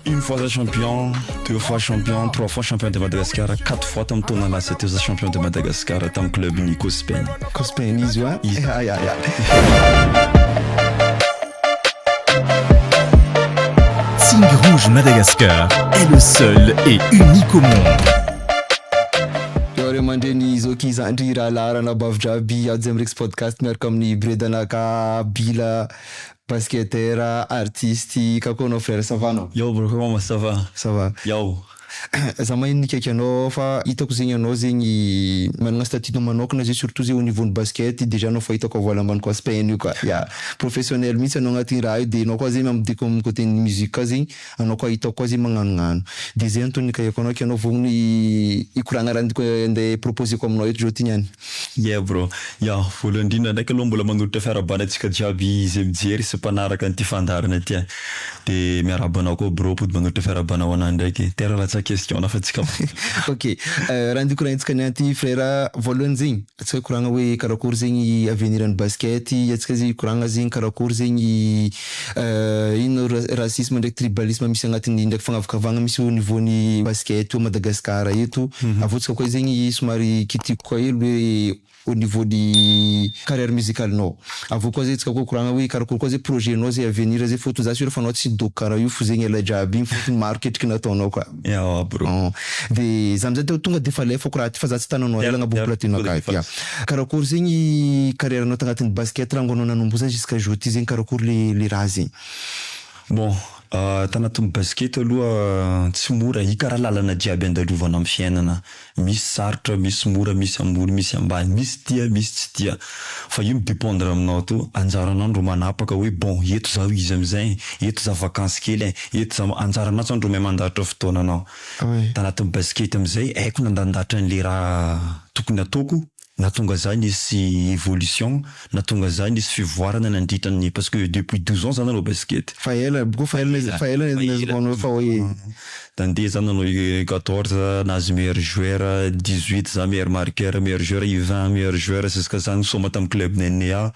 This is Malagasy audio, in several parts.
Une fois za champion, deux fois champion, trois fois champion de Madagascar, quatre fois tamin'ny taona lasa teo za champion de Madagascar tamin'ny club ny Cospen. Cospen izy wa? Izy. Ya ya ya. Signe Rouge Madagascar est le seul et unique au monde. Eo aman-dreny Zoki Zandry Rahalahy Ranabavy Draby Ajo Amrex Podcast miaraka amin'ny Bredana Kabila Basketteur artiste kakonao frère ça va anao? Yao bro koma ça va? Ça va. Yao. Za mahay nikaiky anao fa hitako zegny anao zegny managna statut nao manokana zay surtout zay au niveau ny basket dejà anao fa hitako à voile ambany koa spn io ka ya professionnel mintsy anao agnaty raha io de anao koa zegny amidiko am coté ny musique koa zegny anao koa hitako koa zay magnanognano de zay antony nikaiako anao kianao vao ny hikoragna raha ndiko ande proposer-ko aminao eto zao ty niany. Yeah bro. Ya, voalohany indrindra ndraiky aloha mbola manolotra fiarahabana antsika jiaby izay mijery sy mpanaraka an'ity fandaharana ity an! De miarahaba anao koa bro mpody manolotra fiarahabana ho anah ndraiky. Tera latsa question-na fa tsy kapa. Ok, raha ndiko raha henjika niany ty frera, voalohany zegny, Tsy hay koragna hoe karakory zegny i avenir ny basket i antsika zegny koragna zegny karakory zegny i ino ra- racisme ndraiky tribalisme misy agnatiny ndraiky fagnavakavagna misy au niveau ny basket eto Madagascar eto avy eo tsika koa zegny somary kitiko koa hely hoe au niveau ny carrière musicale nao avy eo koa zay tsika koa koragna hoe karakory koa zay projet nao zay avenir zay fôtony za sûr fa anao tsy hidoky karaha io fo zegny elahy jiaby igny fôtony maro ketriky nataonao ka. Ewa bro. Hum. De za amizay teo tonga defa alefako raha ty fa za tsy tana anao ela agnabo platine akay ty a. Karakory zegny carrière nao tagnatin'ny basket rango anao nanomboha zany jusqu'à jour ty zegny karakory le le raha zegny. Bon, tanatin'ny basket aloha tsy mora, hikara lalana jiaby andalovana amin'ny fiainana Misy sarotra, misy mora, misy ambony, misy ambany, misy tia, misy tsy tia. Fa io mi-dependre aminao to. Anjaranao ndro manapaka hoe bon eto za ho izy amin'izay e, eto za vacance kely e, eto za, anjaranao tsao ndro mahay mandarotra fotoananao. Tanatin'ny basikety amin'izay haiko nandandatra an'le raha tokony ataoko Nahatonga izay nisy evolution, nahatonga izay nisy fivoarana nandritra ny parce que depuis douze ans za nanao basket. Fa ela aby koa fa ela izy fa ela izy vao nanao fa hoe. Nandeha za nanao U quatorze nahazo meilleur joueur, dix huit za meilleur marqueur, meilleur joueur U vingt, meilleur joueur, jusqu'à za nisaoma tamin'ny club ny NEA.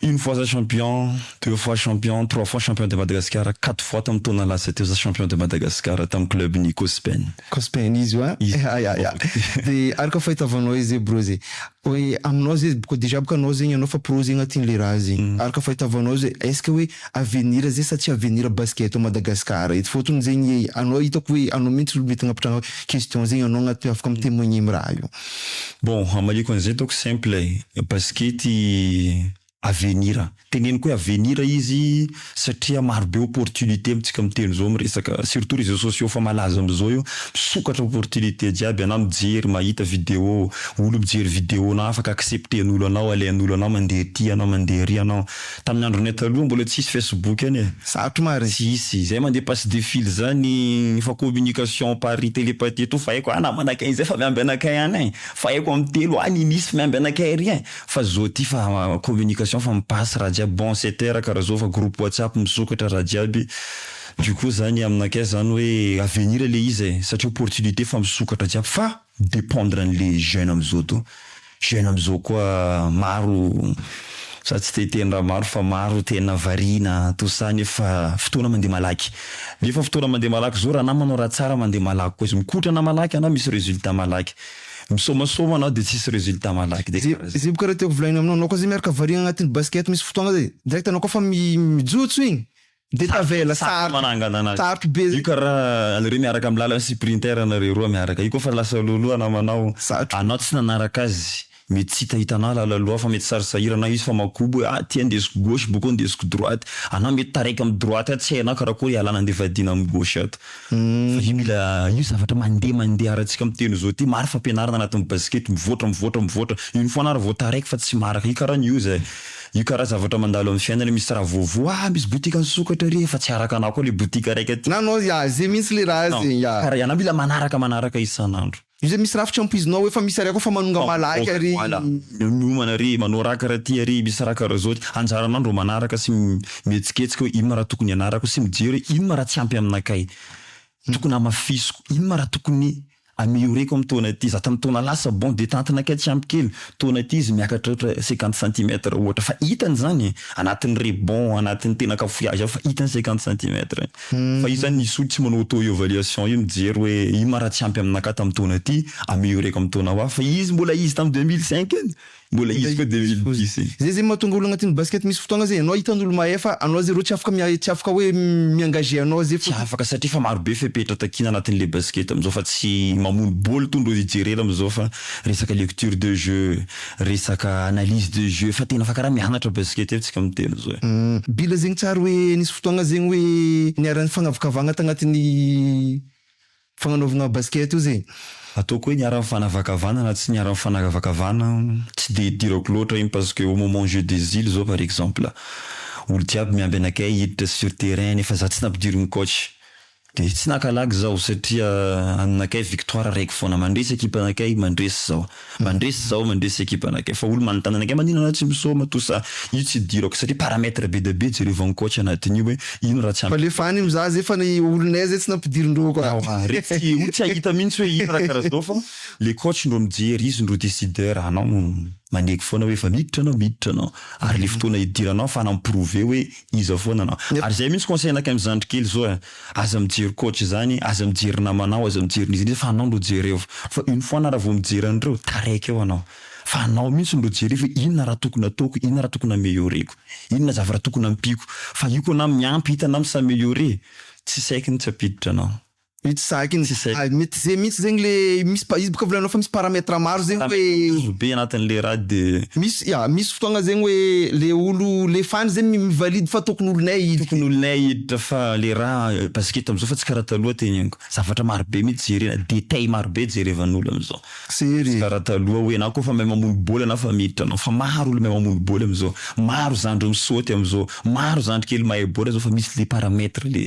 Une fois za champion, deux fois champion, trois fois champion de Madagasikara, quatre fois tamin'ny taona lasa teo za champion de Madagasikara tamin'ny club-n'i Cospen. Cospen izy hoa? Iza? Ya, ya. Dia ary ka fahitavanao izy hoe bro zay, hoe aminao zay boka déjà boka anao zegny anao fa pro zegny anao tian'le raha zay. Ary ka fahitavanao zay, est ce que hoe avenir zay sa tsy avenir basket ao Madagasikara eto? Fôtony zegny anao hitako hoe anao mihitsy olo mety agnapitrahana question zegny anao agnaty hoe afaka mi-temoigner am raha io. Bon hamaliako an'izay ataoko simple e, basikety avenir, teneniko hoe avenir izy satria maro be opportunité amintsika miteny izao miresaka surtout réseaux sociaux efa malaza amzao io, misokatra opportunité jiaby, anao mijery mahita vidéo olo mijery vidéo nao afaka accepter an'olo anao, alain'olo anao mandeha aty anao mandeha ary anao. Tamin'ny andronay taloha mbola tsisy Facebook any e. Sarotro ma ry hisy izay mandeha passe de fil zany fa communication par telepathie eto fa haiko a namana akay izay fa miamby anakay any e fa haiko am telo any i nisy miamby anakay ary e fa zao ty fa communication fa mi passe raha jiaby bon c'est terre karaha zao fa groupe whatsapp misokatra raha jiaby du coup zany aminakay zany hoe avenir le izy e satria opportunité fa misokatra jiaby fa dépendre anle jeune amzao to jeune amzao koa maro za tsy te hiteny raha maro fa maro tena variana tout ça nefa fotoana mandeha malaky nefa fotoana mandeha malaky zao raha anao manao raha tsara mandeha malaky koa izy mikotrana malaky anao misy résultat malaky misomasoa anao de tsisy résultat malaky de kara zay zay bôka raha tiako volaina aminao anao koa zay miaraka variana agnatin'ny basket misy fotoagna zay direct anao koa fa mijotso igny Dia tavela, sarotra manangana anazy. Sarotra be. Io kara anareo miaraka amin'ny lalana sy printer anareo roa miaraka io koa fa lasa loloha namanao. Sarotra. Anao tsy nanaraka azy. Mety tsy hita hitanao lala loha fa mety sary sahirana io izy fa makobo hoe ah ty andesiko gauche bokeo ndesiko droite. Anao mety taraiky amin'ny droite ato tsy hainao karakory ialana ndeha vadiana amin'ny gauche ato. Fa io mila io zavatra mandeha mandeha arantsika miteny zao ty maro fampianarana anatin'ny basikety mivoatra mivoatra mivoatra. Iny foana ary vao taraiky fa tsy maraka. Io kara ny oza e. Io kara zavatra mandalo am fiainana misy raha voavoa ah misy botika nisokatra re fa tsy araka anah koa le botika raika ty. Nanao ya ze mintsy le raha ze ya. Kara ianah mila manaraka manaraka isan andro. Io ze misy rafitra ampoizinao hoe fa misy areko fa manonga malaika re. Voilà miomana re manao raha kara ty are misy raha kara zao ty anjaranah ndro manaraka sy mihetsiketsika hoe ino ma raha tokony ianarako sy mijery hoe ino ma raha tsy ampy aminakay tokony hamafisiko ino ma raha tokony Amélioré-ko amin'ny taona ity, za tamin'ny taona lasa bon dia tantina kay tsy ampy kely, taona ity izy miakatra ohatra cinquante centimètres ohatra fa hitany izany e! anatin'ny rebond, anatin'ny tena cafouillage aho fa hitany cinquante centimètres fa io zany izy tsy manao auto évaluation io mijery hoe ino ma raha tsy ampy aminakahy tamin'ny taona ity, amélioré-ko amin'ny taona ho avy fa izy mbola izy tamin'ny deux mille cinq iny Mbola izy koa deux mille dix e. Zay zay mahatonga olo agnatin'ny basket misy fotoagna zay anao hitan'olo mahay fa anao zay rô tsy afaka tsy afaka hoe mi-engage anao zay Tsy afaka satria efa maro be fepetra takiana anatin'le basket amzao fa tsy mamono bôly to ndro hijerena amzao fa resaka lecture de jeu, resaka analyse de jeu fa tena fa karaha mianatra basket aby tsika miteny zao e. Hum, bila zegny tsary hoe nisy fotoagna zegny hoe niara-nifagnavakavagna tagnatin'ny Fagnanaovagna basket ozy e! Ataoko hoe niara nifanavakavana na tsy niara nifanavakavana tsy dia idirako loatra iny parce que au moment jeux des îles zao par exemple olo jiaby miamby anakay hiditra sur terrain nefa za tsy nampidirin'ny coach dia tsy naka lagy zaho satria aminakay victoire raiky foana mandresy ekipanakay mandresy zaho. Mandresy zaho mandresy ekipa anakay fa olo manontany anakay maninona anao tsy misaoma toa sa io tsy idirako satria paramètre be dia be jereo vao ny coach anatin'io hoe ino raha tsy ampy. F'aleo fa any am za zay fa ny olonay zay tsy nampidirindreo koa. Ewa re tsy olo tsy ahita mintsy hoe ino raha karaha zao fa le coach ndro mijery izy ndro décideur anao no maneky foana hoe efa miditra anao miditra anao ary le fotoana hidiranao fa nam prouver hoe iza foana anao ary zay mintsy conseil anakay am zandry kely zao eh. Aza mijery coach zany, aza mijery namanao, aza mijery n'iza n'iza fa anao lo jerevo. Fa une fois na ra vo mijery an'ireo, taraiky eo anao. Fa anao mintsy lo jerevo hoe inona ra tokony ataoko, inona ra tokony ameliorer-ko, inona zavatra tokony ampiako. Fa io ko na miampy hita na mi-s'ameliorer, tsy saiky ny tsy ampiditra anao. Io tsy saiky ny tsy saiky. Mety ze mintsy zegny le misy pa izy boka volanao fa misy paramètre maro zegny hoe. Maro be anatin le raha de. Misy ya, misy fotoagna zegny hoe le olo le fan zegny mi-valide fa tokony olonay io. Tokony olonay io. Hita fa le ra basket amzao fa tsy kara taloha teny amiko zavatra maro be mitsy jerena detail maro be jerevanolo amzao tsy kara taloha oe enao ko fa mahay mamono boly enao fa miditra anao fa maro olo mahay mamono boly amzao maro zandry misaoty amzao maro zandry kely mahay boly zao fa misy le paramètre le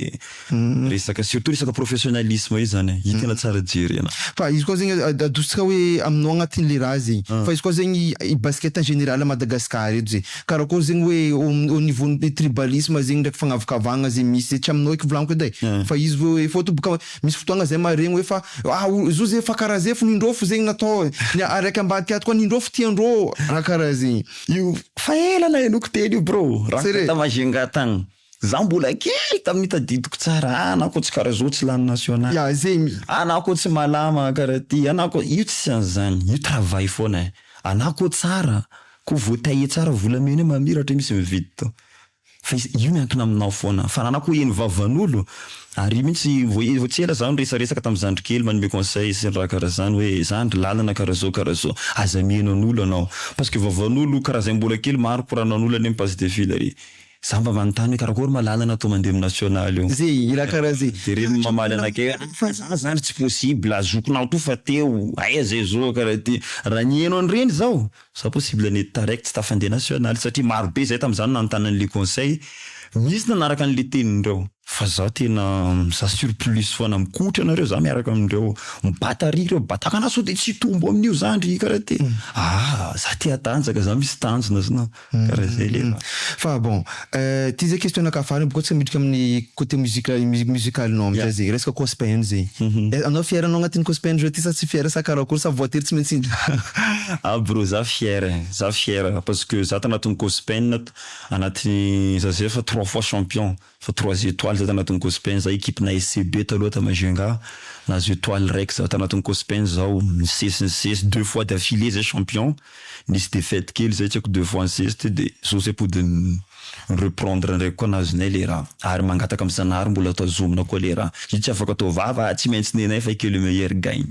resaka surtout resaka professionnalisme io zany hitana tsara jerena. Fa izy koa zegny adositsika oe aminao agnatinle ra zegny fa izy koa zegny basket en général Madagascar eto zegny. Karakôry zegny hoe au niveau ny tribalisme zegny ndraiky fagnavakavahagna ze misy ze tsy aminao eky volaniko edy ai, fa izy hoe efa ohatra boka misy fotoagna zay maharegny hoe fa ah o zo ze fa karaha ze fo n'indrô fo zegny natao e, ny araiky ambadika ato koa n'indrô fo tiandrô raha karaha zegny. Io fa ela nahenoko teny io brô, raha tany Majunga tany. Za mbola kely tamin'ny tadidiko tsara ah anako tsy kara zao tsy lany national Ya zegny. Anako tsy malama kara ty anako io tsy an'zany io travail foana eh anako tsara ko vo tailler tsara volamena io mamiratra io misy mividy to fa izy io miankina aminao foana fa anako eny vavan'olo ary io mintsy vo vo tsy ela za niresaresaka tamin'ny zandry kely manome conseil sy ny raha kara zany hoe zandry lalana kara zao kara zao aza miheno an'olo anao parce que vavan'olo kara zay mbola kely maro koranan'olo any am passe de fil ary Za mba manontany hoe karakory ma lalana to mandeha am national io. Ze hira karaha ze. Jereo mamaly anakay hoe fa za zany tsy possible zokinao to fa teo aiza izo karaha ty raha niheno an'ireny zaho za possible nety taraiky tsy tafandeha national satria marobe zay tamzany nanontany an'le conseil misy nanaraka an'le tenin'ireo fa za tena mizaha sur plus foana mikotra anareo za miaraka amindreo mibata ry ireo bataka anah sao de tsy hitombo amin'io za ndry karaha ty ah za te hatanjaka za misy tanjona zna. Karaha zay le raha. Fa bon, ty zay question anakahy farany bôka tsika miditra amin'ny côté musique musical-nao amizay zay, resaka cospn zay. Anao fier anao agnatin'ny cospn zao ty sa tsy fier sa karakory sa voatery tsy maintsy hiditra? Ah brô za fier e, za fier parce que za tanatin'ny cospn, anatin'ny za zay efa trois fois champion. Fa trois etoiles za tanatin'ny Cospin za equipe na SCB taloha ta Majunga nahazo etoile iraiky za tanatin'ny Cospin zao nisesy nisesy deux fois d'affilée zay champion nisy défaite kely zay tsy haiko deux fois nisesy teo de zao zay pody ny reprendre ndraiky koa nahazoanay le raha ary mangataka am Zanahary mbola tazomina koa le raha io tsy afaka atao vava ah tsy maintsy nenay fa i que le meilleur gagne.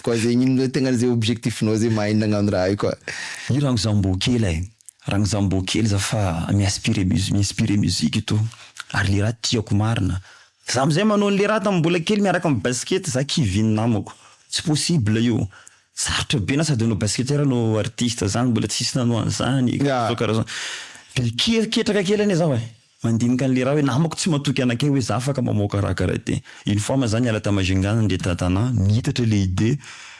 Koa zegny ino le tegna ze objectif nao ze mahay nagnano raha io koa. Io ragno za mbô kely ai, ragno za mbô kely za fa mi-aspire musi- mi-inspire musique to ary le raha tiako marina. Za amzay manao anle raha tam mbola kely miaraka am basket za kivy ny namako, tsy possible io, sarotra be na sady anao basketteur no artiste zany mbola tsisy nanao anzany e, karazaokarazaona, de ke- ketraka kely anie zaho ai. Mandinika an'ilay ra hoe namako tsy matoky anakay hoe za afaka mamoaka ra karate. Une fois ma za niala ta Majunga nandeha ta Tana, niitatra ilay idee,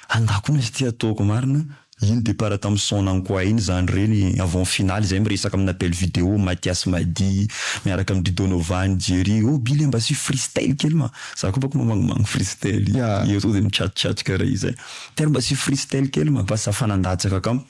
andakona izy ty ataoko marina, iny départ tam Son Nang Kua iny zany reny avant finale izay miresaka amina belle video Mathias Madi miaraka am dry Donovan, Jerry, oh Billy mba asio freestyle kely ma, za ko bako mamangimangina freestyle, ianao zay mitsatotsatoka ra izay, Pierre mba asio freestyle kely ma, fa za fa nandatsaka kamo.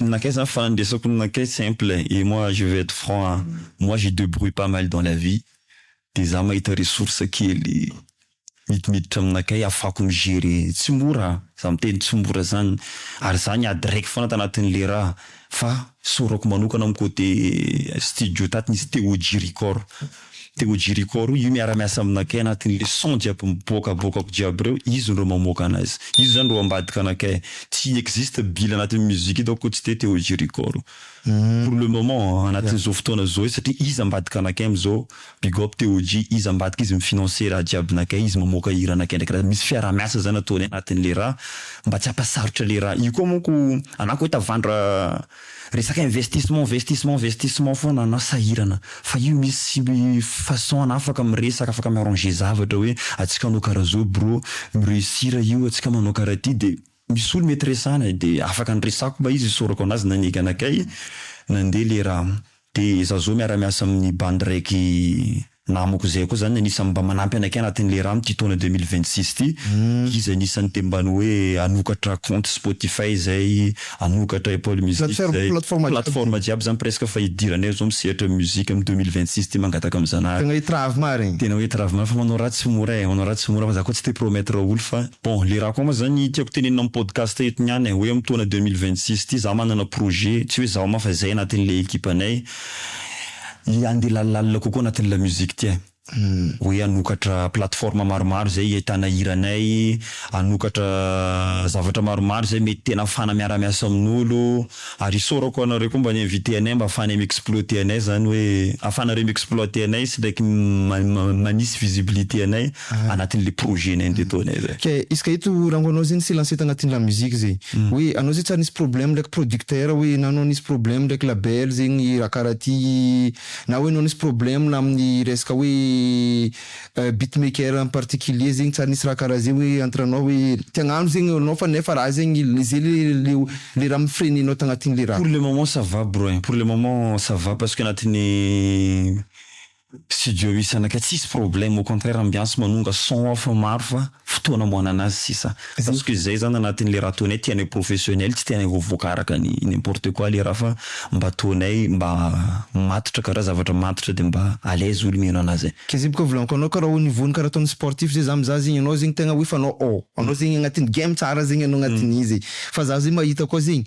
Nankay zany fa andesako nankay simple et moi je vais être franc a moi je debrouille pas mal dans la vie de za mahita ressource kely midimiditra amin nankay afako mi gerer tsy mora za miteny tsy mora zany ary za niady raiky fona tanatin le raha fa saorako manokana am cote studio tato nisy Téo G record Dia ho Jericho roa io miara-miasa aminakay anatin'ilay son jiaby miboakaboakako jiaby ireo, izy no ireo mamoaka anazy. Izy izany ireo ambadika anakay. Tsy existe bila anatin'ny musique eto akory tsy dia te ho Jericho roa. Pour le moment an, anatin'izao fotoana izao izy satria izy ambadika anakay amin'izao, big up TOJ, izy ambadika izy mi-financer raha jiaby nakay, izy mamoaka hira anakay ndraiky raha misy fiaraha-miasa izany ataony anatin'ilay raha mba tsy hampasarotra ilay raha. Io koa manko anako hoe tavandra. Resaka investissement investissement investissement foana anao sahirana fa io misy façon anao afaka miresaka afaka mi arranger zavatra hoe atsika hanao karaha zao bro mi reussir io atsika manao karaha ty de misy olo mety resana e de afaka niresako mba izy isaorako anazy naneky anakay nandeha le raha de za zao miara miasa aminy bandy raiky Na amiko izay koa izany ny anisan'ny mba manampy anakay anatin'ny le rano ity taona deux mille vingt six ity, iza anisan'ny te mba ny hoe hanokatra compte spotify izay, hanokatra apple music izay, plateforme jiaby izany presque fa hidiranay izao misehatra musique amin'ny deux mille vingt six ity mangataka amin'ny zanahary. Tena hety raha avy marigny. Tena hety raha avy marigny fa manao raha tsy mora e, manao raha tsy mora fa za koa tsy te promettre olo fa bon le raha koa ma zany tiako tenenina amin'ny podcast eto niany e, hoe amin'ny taona deux mille vingt six ity za manana projet, tsy hoe zaho ma fa zay anatin'ilay ekipanay, Ilay handeha lalilalina kokoa anatin'ny lamusique ity eh. Hoe hanokatra plateforme maromaro izay hiaitana hiranay, hanokatra zavatra maromaro izay mety tena hafana miara-miasa amin'olo, ary isaorako anareo koa mba ni-inviter anay mba hafanay mi-exploter anay izany hoe, hafanareo mi-exploiter anay sy ndraiky manisy visibilité anay. anatin'ilay projet nay ndeha ataonay zay. Ka izy ka eto rango anao zay nisy lancé tanatin'ny la musique zay hoe anao zay tsy ary nisy problème ndraiky producteur hoe na anao nisy problème ndraiky label zay ny raha karaha ty na hoe anao nisy problème na amin'ny resaka hoe beat maker en particulier zegny tsy ary nisy raha karaha zay hoe entre anao hoe te hagnano zegny anao fa nefa raha zegny zay le le le raha mi-freine anao tagnatin'le raha. Pour le moment ça va bro ein, pour le moment ça va parce que anatin'ny studio isana ka tsisy problème au contraire ambiance manonga son ao fa maro fa fotoana amoanana azy sisa parce que zay zany anatin'le raha ataonay tianay professionnel tsy tianay ho voaka araka ny n'importe quoi le raha fa mba ataonay mba matotra ka raha zavatra matotra de mba à l'aise olo mihaino anazy. Kizib ka volaniko anao ka raha au niveau ny karaha ataon'ny sportif zay za mizaha zegny anao zegny tegna hoe fanao ao anao zegny agnatin'ny game tsara zegny anao agnatin'ny izy e fa za zay mahita koa zegny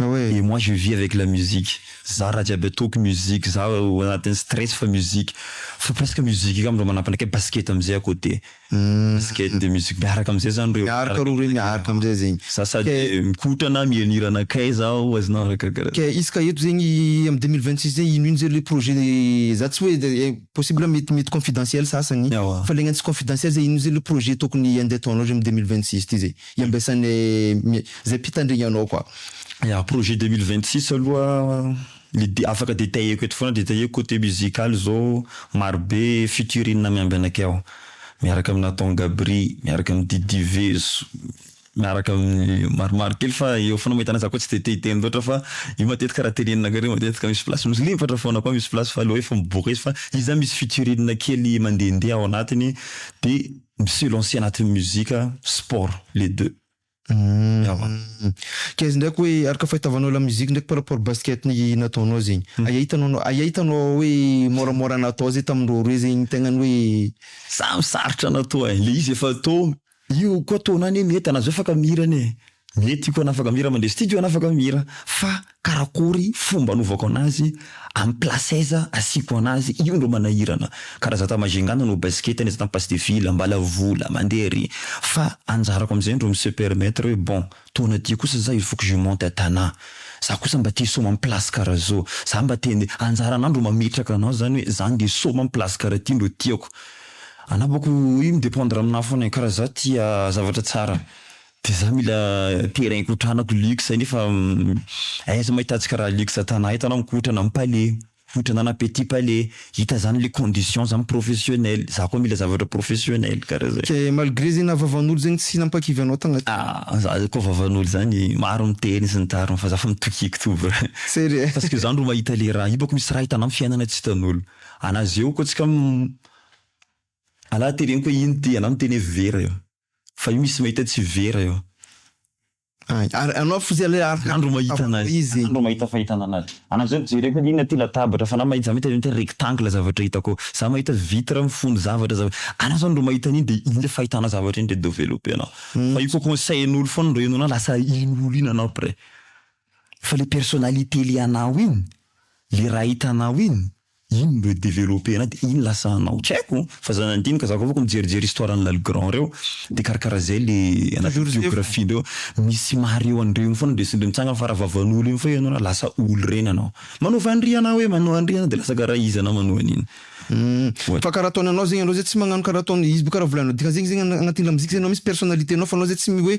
Et moi je vis avec la musique, za raha jiaby ataoko musique, za ao anatin'ny stress fa musique, fa presque musique io angamba manapanaika, basket amizay à côté, basket de musique miaraka amizay zany reo, miaraka roa reo miaraka amizay zegny, za sady mikotrana mihanira anakay zaho azonao arakaraka, ka izy ka eto zegny am deux mille vingt six zegny ino ino zay le projet za tsy hoe de possible mety mety confidentiel sasany, fa le agnano tsy confidentiel zay ino ino zay le projet tokony ande ataonao zay am deux mille vingt six ty zay. Iambesany mi zay mpitandrigna anao quoi. Ya, projet deux mille vingt six aloha le de afaka detailleko eto foana, detailleko côté musical zao maro be featuring miamby anakay ao, miaraka amin'i Nathan Gabri, miaraka amin'i Didi Vezo, miaraka amin'ny maromaro kely fa eo foana mahita anazy za koa tsy de te hiteny loatra fa io matetika raha tenenin'akareo matetika misy place misy limbatra foana koa misy place fa aleo hoe efa miboaka izy fa izy zany misy featuring kely mandehandeha ao anatiny de Misy lancé anatin'ny musique, sport, les deux. Ewa. Kaiza ndraiky hoe araka fahitavanao la musique ndraiky par rapport basket ny nataonao zegny. Aia hitanao aia hitanao hoe môramôra natao zay tamindreo roe zegny ny tegna ny hoe. Samy sarotra natao e, le izy efa tô, io koa tô-na anie mety anazao efa ka mihira anie e. Mety iko hanafaka mira mandresy tiako hanafaka mira fa karakory fomba anovako anazy am place aiza asiako anazy io ndro manahirana kara za ta Majunga nanao basket nefa tam passe de ville ambala vola mandeha ary fa anjarako amzay ndro mi se permettre hoe bon taona ty kosa za il faut que je monte à Tana za kosa mba te soma am place kara zao za mba te nde anjarana ndro mametraka anao zany hoe za nde soma am place kara ty ndro tiako anabako io mi dependre aminah fona e kara za tia zavatra tsara Dia za mila terrain hikotranako luxe nefa aiza ma hitatsika raha luxe an-tanà eto anao mikotrana amin'ny palais, mikotrana any petit palais, hita zany le condition zany professionnel, za koa mila zavatra professionnel karaha zay. Dia malgré zay naha vavan'olo zegny tsy nampakivy anao tagnaty. Ah, za koa vavan'olo zany maro miteny sy ny tariny fa za fa mitokiky to bra. Zay re. Parce que zany ro mahita le raha io bako misy raha hitanao amin'ny fiainana tsy hitan'olo. Anà zeo koa tsika anà teneniko hoe ino ty anà miteny hoe vera eo. fa io misy mahita tsy vera io. Ay, ary anao fotsiny aloha ary ny andro mahita an'azy. Andro mahita fahitana an'azy. Anao zao jereko hoe inona ity latabatra fa anao mahita za mahita an'io hoe rectangle zavatra hitako ao. Za mahita vitre mifono zavatra zava-, anao zao ndro mahita an'iny dia iny le fahitanao zavatra iny dia developper-nao. Fa io koa conseil-n'olo foana ndro henoinao lasa iny olo iny anao après. Fa le personnalité le anao iny, le raha hitanao iny, iny no developper-nao de iny lasa anao. Tsy haiko fa za nandinika, za koa afaka mijerijery histoire an'i Lalgrand reo de karakara zay le anaty biographie ndreo. Misy mahareho an'ireny foana ndre sy ndre mitsangana fa raha vavan'olo iny foana ianao lasa olo reny anao. Manao vanry anao hoe manao an'ry anao de lasa karaha izy anao manao an'iny. Ohatra. Fa karaha ataony anao zegny anao zay tsy magnano karaha ataony izy bo karaha volano dika zegny zegny agnatin'ny lamozika zay anao misy personnalité-nao fa anao zay tsy mi hoe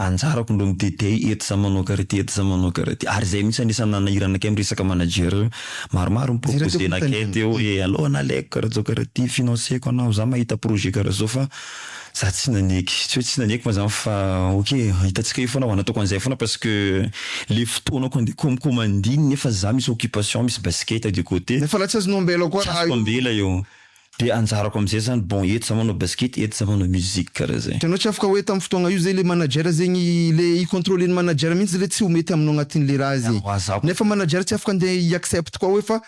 Anjarako aloha mitete eto za manao karity eto za manao karity ary zay mihitsy anisany nanahirana akay am resaka manager maromaro ny proposer nakay teo hoe aleo analeiko karaha zao karaha ty financer-ko anao za mahita projet karaha zao fa za tsy naneky tsy hoe tsy naneky moa zany fa ok hitantsika eo foana nataoko anzay foana parce que le fotoanako ande komokomandy iny nefa za misy occupation misy basket de côté Nefa la tsy azonao ambela koa raha io. Tsy azoko ambela io. De anjarako amizay zany bon eto za manao basket eto za manao musique kara zay. Itanao tsy afaka hoe tam fotoagna io zay le manager zegny le i contrôle ny manager mintsy le tsy ho mety aminao agnatin le raha zay. Nefa manager tsy afaka ande i accept koa hoe fa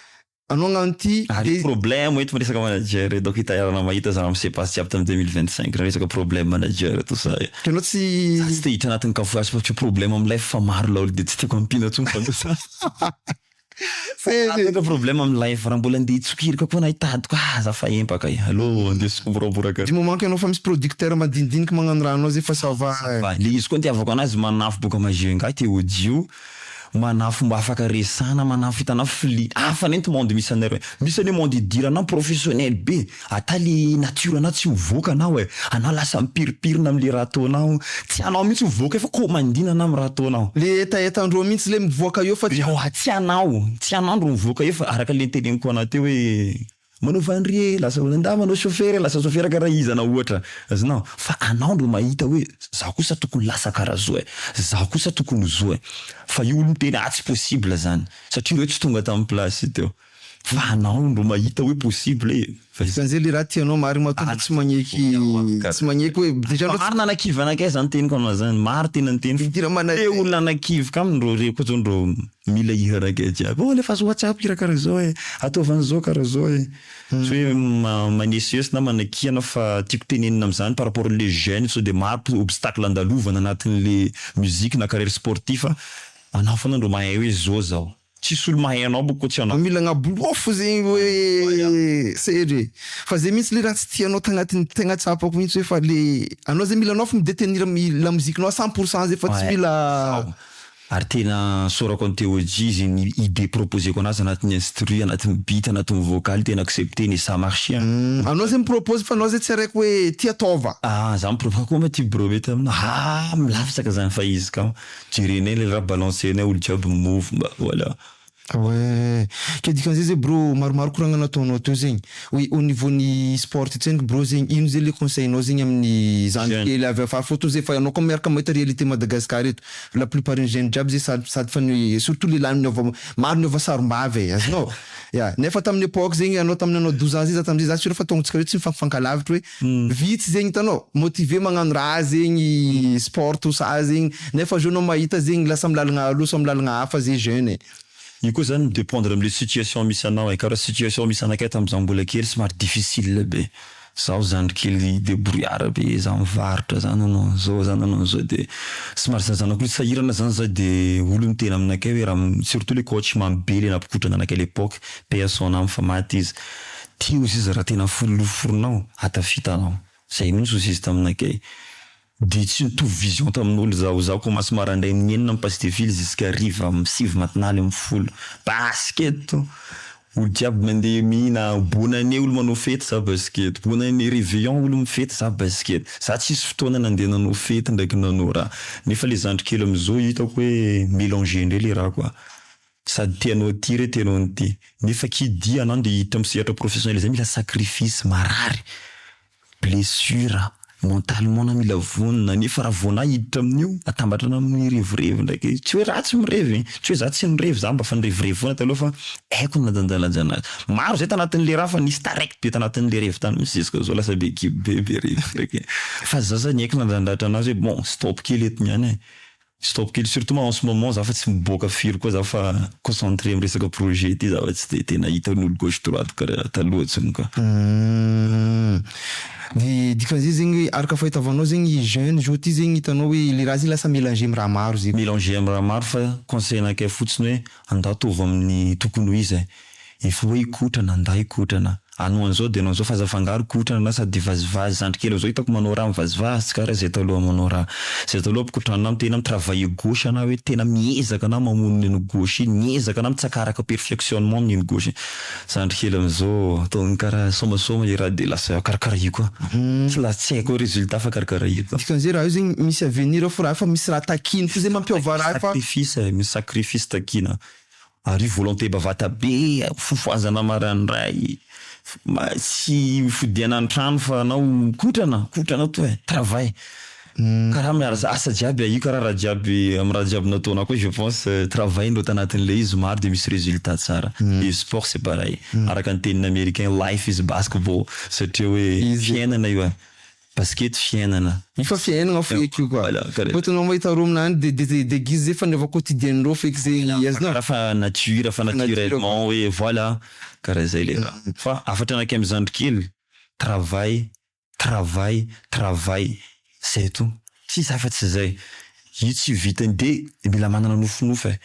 anao agnano ty de. Problème eto miresaka manager eto donc itaiarana mahita za mi se passe jiaby tam deux mille vingt cinq raha resaka problème manager tout ça eh. Itanao tsy. Za tsy te hiditra agnatin kafoazy fa tsy ho problème am life fa maro laolo de tsy tiako ampiana tsony fa. Tena ka problème amin'ny life raha mbola ndeha hitsokirika koa na hitadika ah za fa empaka eh aleo ndeha somboroboraka. Du moment ianao fa misy producteur madinidinika magnano raha anao zay fa ça va eh. Va, le izy koa ny itiavako anazy manafo boka magie ngahy te audio, manafo mba afaka resana, manafo hitanao fli, hafa anie ny monde misy anareo, misy anie monde idiranao professionnel be, Ata le nature anao tsy mivoaka anao e! Anao lasa mipirimpirina amle raha ataonao, tsy anao mihitsy mivoaka eo fa komandina anao am raha ataonao. Le hetaheta ndreo mihitsy le mivoaka eo fa tsy. Ewa tsy anao, tsy anao ndro mivoaka eo fa araka le niteneniko anao teo hoe manao vanry e lasa hoe ndà manao chauffeur e lasa chauffeur kara iza anao ohatra azonao fa anao ndro mahita hoe zaho kosa tokony lasa kara zao e, zaho kosa tokony ho zao e, fa io olo miteny atsy possible zany satria reo tsy tonga tam place teo. Fa anao no mahita hoe possible e! Fa izany zay le raha tianao marina matoa fa tsy magneky tsy magneky hoe dejà anao tsy. Marina anakivy anakay zany teniko anao zany marina tena ny teniko fa te olona anakivy ka amindreo reko zao ndreo mila hira anakay jiaby oh alefaso whatsapp hira karaha zao e ataovy anzao karaha zao e tsy hoe manesihesy na manakihana fa tiako tenenina amzany par rapport le jeune sao de maro obstacle andalovana anatinle musique na carrière sportif anao fona ndro mahay hoe zao zao. Tsisy olo mahay anao boko tsy anao. Mila agnabolofo zegny hoe sery e! Fa zay mintsy le raha tsy tianao tagnatiny tegna tsapako mintsy hoe fa le anao zay mila anao fô mi detenir lamoziky nao à cent pour cent zay fa tsy mila Zaho ary tena saorako an'i Theodjy izy ny idée proposeko anazy anatin'ny instru, anatin'ny beat, anatin'ny vocal tena accepter-ny et ça marche an! Anao zay mi propose fa anao zay tsy araiky hoe ty ataova. Ah! Za mi propose, koa angaha ty brometa aminao? Ah! Milatsaka zany fa izy kamo. Jerenay le raha balancenay olo jiaby move mba voilà. Ouais, ke dikan'izay zay bro maromaro koragna nataonao teo zegny, oui au niveau ny sport ty tsendriky bro zegny ino zay le conseil nao zegny amin'ny zandry kely avy afara fô toy zay fa anao koa miaraka mahita réalité Madagascar eto la plupart ny jeune jiaby zay sady sady fa ny surtout lehilahy niova maro niova sarimbavy e azonao ya nefa tamin'ny epoque zegny anao tamin'ny anao douze ans zay za tamin'izay za surr fa taognontsika reo tsy mifankalavitry hoe Vitsy zegny hitanao motiver magnano raha zegny sport tout ça zegny nefa zao anao mahita zegny lasa am lalagna aloha sa am lalagna hafa ze jeune e. Io koa zany mi dependre amle situation misy anao e, ka raha situation misy anakay tamza mbola kely somary difficile be, zaho zandry kely debrouillard be za mivarotra za nanao anzao za nanao anzao de somary zazana koa sahirana zany za de olo miteny aminakay hoe raha surtout le coach mamy be le nampikotrana anakay lepoque paix à son ame fa maty izy Tia ozy izy raha tena folo noforonao, hatafita anao. Zay mintsy ozy izy taminakay. Dia tsy nitovy vision tamin'olo zaho. Zaho commence marandraigny ny enina mi-passe de fil jusqu'à hariva am sivy matinale am folo. Basy eto. Olo jiaby mandeha mihina bonne année olo manao fety za basy eto. Bonne année reveillon olo mifety za basy eto. Za tsisy fotoana nandeha nanao fety ndraiky nanao raha. Nefa le zandry kely amizao hitako hoe melanger ndray le raha quoi. Sady te hanao ity re te hanao an'ity. Nefa ki dia anao ndeha hiditra amin'ny sehatra professionnel izay mila sacrifice, marary, blessure, mentalement anao mila vonona. Nefa raha vao anao hiditra amin'io, atambatra anao amin'ny revirevy ndraik'e. Tsy hoe ratsy mirevy e! Tsy hoe za tsy nirevy, za mba fa nirevirevy foana taloha fa haiko ny nadanjalanja anazy. Maro izay tanatin'le raha fa nisy taraiky be tanatin'le revy tany mihintsy jusqu'à zao lasa be kibo be, be revy ndraiky e. Fa za zany niaiky nandradratra anazy hoe bon stop kely eto niany e. Stop kely surtout ma en ce moment za fa tsy miboaka firy koa za fa concentré am resaka projet ty za fa tsy de tena hitan'olo gauche droite karaha taloha tsony ka. Humm de dikan'izay zegny hoe araka fahitavanao zegny jeune zao ty zegny hitanao hoe le raha zegny lasa melange am raha maro zegny. Melange am raha maro fa conseil anakay fotsiny hoe. Andao ataovy amin'ny tokony ho izy eh. Efa hoe hikotrana, andao hikotrana. Anao an'izao dia anao an'izao fa aza afangaro kotrana na sady vazivazy. Zandry kely amin'izao hitako manao raha mivazivazy tsy karaha izay taloha manao raha. Izay taloha mpikotrana na tena mi-travailler gauche anao hoe tena miezaka anao mamono iny anao gauche iny, miezaka anao mitsakaraka perfectionnement amin'iny gauche iny. Zandry kely amzao ataony kara somasoma ira de lasa karakara io koa tsy la tsy haiko resultat fa karakara io koa. Dikan'izay raha eo zegny misy avenir eo fô raha io fa misy raha takina fô zay mampiôva raha io fa. Sacrifice e, misy sacrifice takina ary io volonté bavata be fofohazana marandray mba tsy hifodiana antrano fa anao kotrana kotrana toa e travail. Karaha miarasa asa jiaby a io karaha raha jiaby am raha jiaby nataonao koa je pense travail ndao tanatin le izy maro de misy resultat tsara de sport c'est pareil araka ny tenin americain life is basketball satria hoe fiainana io a baskety fiainana. Io fa fiainana feky io ka fa itanao ma itanreo aminany de de deguise fa ny quotidien ndreo feky ze azonao Karaha fa nature fa naturellement hoe voilà karaha zay le raha fa afatra anakay am zandrikely travail travail travail zay to tsisy afa tsy zay io tsy vitany de mila manana nofinofy e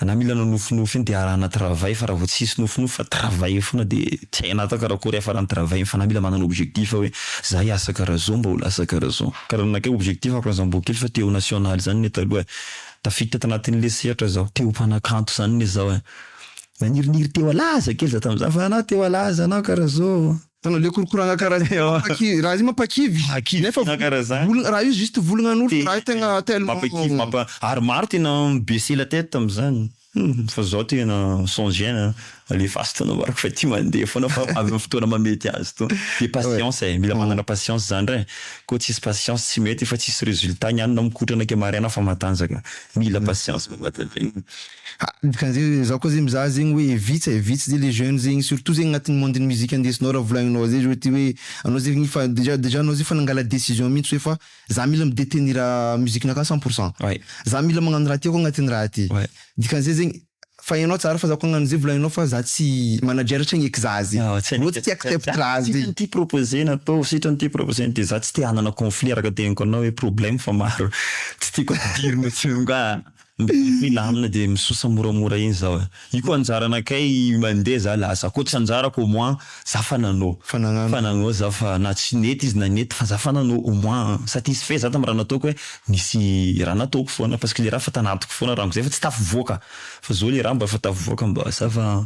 ana mila anao nofinofy iny de arahana travail fa raha vao tsisy nofinofy fa travail fona de tsy hainao atao karakory hiafarany travail iny fa ana mila manana objectif hoe za hiasa kara zao mba ho lasa kara zao kara nanakay objectif aho kara zah mbo kely fa te ho national zany ne taloha e tafiditra tanatin le sehatra zaho te ho mpanakanto zany ne zaho e naniriniry te ho alaza kely za tamzany fa ana te ho alaza ana kara zao. Tanao le korokoranga kara zay Ewa. mampaki- raha izy mampakivy Mampakivy nefa tena kara zany. volana raha io juste volana an'orona Te- raha io tegna tellement Mampakivy mampa ary maro tena mi baisser la tête amzany humm fa zao tena sans gène a alefaso to anao marc fa ty mandeha foana fa avy am fotoana mamety azy to de patience e mila manana patience zany re ko tsisy patience tsy mety fa tsisy resultat ny any na mikotrana ke maraina fa matanjaka mila patience. Dikan'zegny zaho koa zegny mizaha zegny hoe vitsy e, vitsy zay le jeune zegny surtout zegny agnatin'ny monde ny musique indesinao raha volagninao zay zao ty hoe anao zegny efa déjà déjà anao zay efa nangala décision mintsy hoe fa za mila mi-detenir musique-nakah cent pour cent, za mila magnano raha tiako agnatin'ny raha ty, dikan'zay zegny fa enao tsara fa za koa agnano zay volagninao fa za tsy manager tsy hagneky za zay, anao tsy te hi-accept raha zay. Sitrany ty proposer natao, sitrany ty proposer de za tsy te hanana conflit araka tegniko anao hoe problème fa maro tsy tiako ampidirina tsony ka. Mibaiko i lamina dia misosa moramora iny zaho eh. Io koa anjarana kay mandeha za lasa. Koa tsy anjarako au moins za fa nanao. Fa nagnano. Fa nagnao za fa na tsy nety izy na nety fa za fa nanao au moins satisfait za tam raha nataoko hoe nisy raha nataoko foana parce que le raha efa tanatiko foana rango zay fa tsy tafavoaka fa zao le raha mba efa tafavoaka mba za fa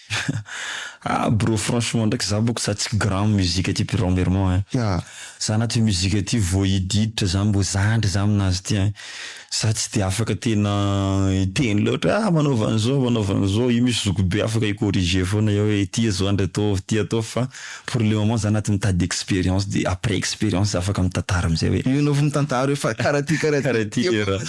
Ah bro franchement ndraiky za boko za tsy grand am musique ty birao mermon ein. Ya. Za anaty io musique ty vao hididitra za mbo zandry za aminazy ty ein. Za tsy de afaka tena hiteny loatra hoe ah manaova an'izao manaova an'izao io misy zokibe afaka hi-corriger foana hoe ity azo andry ataovy ity ataovy fa Pour le moment za anaty mitady expérience de après expérience za afaka mitantara amizay hoe. Io anao vao mitantara hoe fa kara ty kara ty. Kara ty era.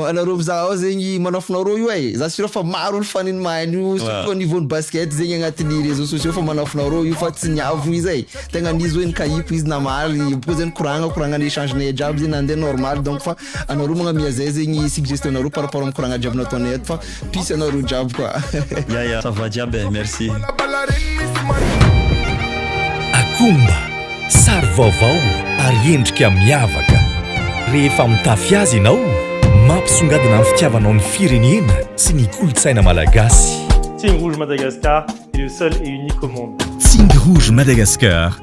Anareo mizaha ao zegny manafinao reo io ai, za sûr fa maro ny fan ny mahay an'io surtout au niveau ny basket zegny agnatin'ny réseaux sociaux fa manafinao reo io fa tsy ny avo izy ai, tegna an'izy hoe nikahiako izy namaly, bôka zay nikoragna koragna ny échange nay jiaby zay nande normal donc fa. anareo magna miazay zegny suggestion nareo par rapport am koragna jiaby nataonay eto fa peace anareo jiaby koa ya ya ça va jiaby eh merci Akomba, sary vaovao ary endrika miavaka. Rehefa mitafy azy ianao, mampisongadina ny fitiavanao ny firenena sy ny kolontsaina malagasy. Tsihy Rouge Madagascar est le seul et unique au monde. Tsihy Rouge Madagascar